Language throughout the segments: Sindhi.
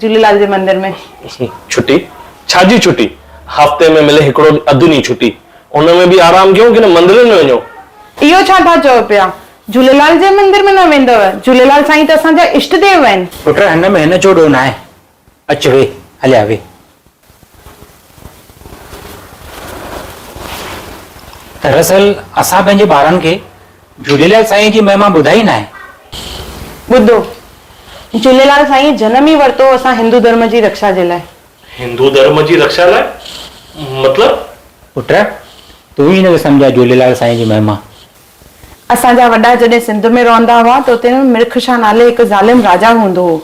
جهوليلال جي مندر ۾. ڇٽي؟ ڇا جي ڇٽي؟ هفتي ۾ ملي هڪڙو اڌ ڏينهن ڇٽي. ان ۾ به آرام ڪيون ڪنه مندرن ۾ وڃون. اهو ڇا ٿا چئو پيا؟ جهوليلال جي مندر ۾ نه ويندؤ؟ جهوليلال سائين ته اسان جا اشٽ ديو آهن. پٽ هن ۾ هن جو ڏوهه ناهي. اچ ويهه هليا ويهه. دراصل اسان پنهنجي ٻارن کي جهوليلال سائينء جي مهما ٻڌائي ناهي. ٻڌو، جهوليلال سائينء جنم ئي ورتو هو اسان هندو ڌرم جي رڪشا جي لاء. هندو ڌرم جي رڪشا لاء؟ مطلب؟ پٽ، تون ئي هن کي سمجهاء جهوليلال سائينء جي مهما. اسان جا وڏا جڏهن سنڌ ۾ رهندا هئا ته اتي مرڪ شاهه نالي هڪ ظالم راجا هوندو هو،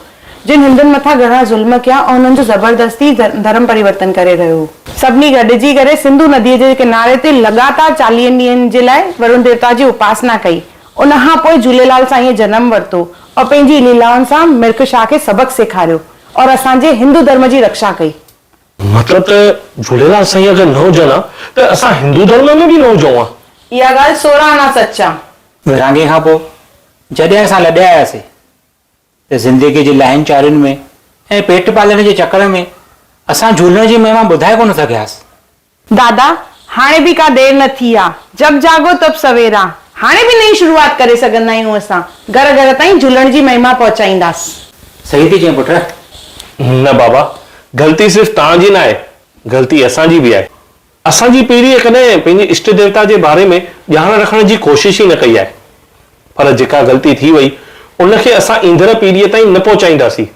جن هندن مٿان گهڻا ظلم ڪيا ۽ انهن جو زبردستي ڌرم پريورتن ڪري رهيو هو. سڀني گڏجي ڪري سنڌو نديء جي ڪناري تي لڳاتار چاليهن ڏينهن جي لاء ورڻ ديوتا جي اپاسنا ڪئي. ان کان پوء جهوليلال سائينء جنم ورتو ۽ پنهنجي ليلائن سان مرڪ شاهه کي سبق سيکاريو ۽ اسان جي هندو ڌرم جي رڪشا ڪئي. مطلب ته جھوليلال سائين اگر نه هجن ها ته اسان هندو ڌرم ۾ به نه هجون ها. اها ڳالهه سورهن آنا سچ آ. ورهاڱي کان پوء جڏهن اسان لڏي آياسي ته زندگي جي لاهين چارين ۾ ۽ پيٽ پالڻ جي چڪر ۾ اسان جھولڻ جي مهما ٻڌائي ڪونه سگهياس. دادا، هاڻي به ڪا دير نه ٿي آ، جب جاڳو تب سويرا، هاڻي به نئين شروعات ڪري سگهندا آهيون اسان، گهر گهر تائين جھولڻ جي مهما پهچائينداس. صحيح ٿي چئين پٽ. نه بابا، غلطي صرف توهان جي ناهي، غلطي اسان جي به آهي. اسان جي پيڙهيء ڪڏهن پنهنجي اشٽ ديوتا جي باري ۾ ڄاڻ رکڻ جي ڪوشش ئي نه ڪئي آهي. پر جيڪا غلطي ٿي وئي، ان کي اسان ايندڙ پيڙهيء تائين نه پهچائينداسين.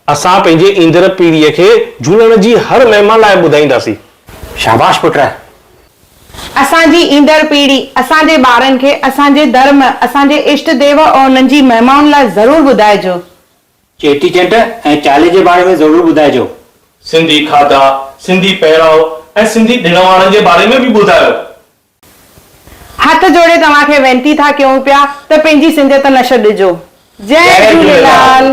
اسان پنهنجي ايندڙ پيڙهيء کي جهولڻ جي هر مهما لاء ٻڌائينداسين. شاباش پٽ! اسان جي ايندڙ پيڙهي اسان جي ٻارن کي اسان جي ڌرم، اسان جي اشٽ ديو ۽ انهن جي مهمائن لاء ضرور ٻڌائجو. چيٽي چنڊ ۽ چالي جي باري ۾ ضرور ٻڌائجو. سنڌي کاڌا، سنڌي پهراء ۽ سنڌي ڏڻ واڻن جي باري ۾ به ٻڌايو. هٿ جوڙي توهان کي وينتي ٿا ڪيون پيا ته پنهنجي سنڌيت نه ڇڏجو. جئي جهوليلال.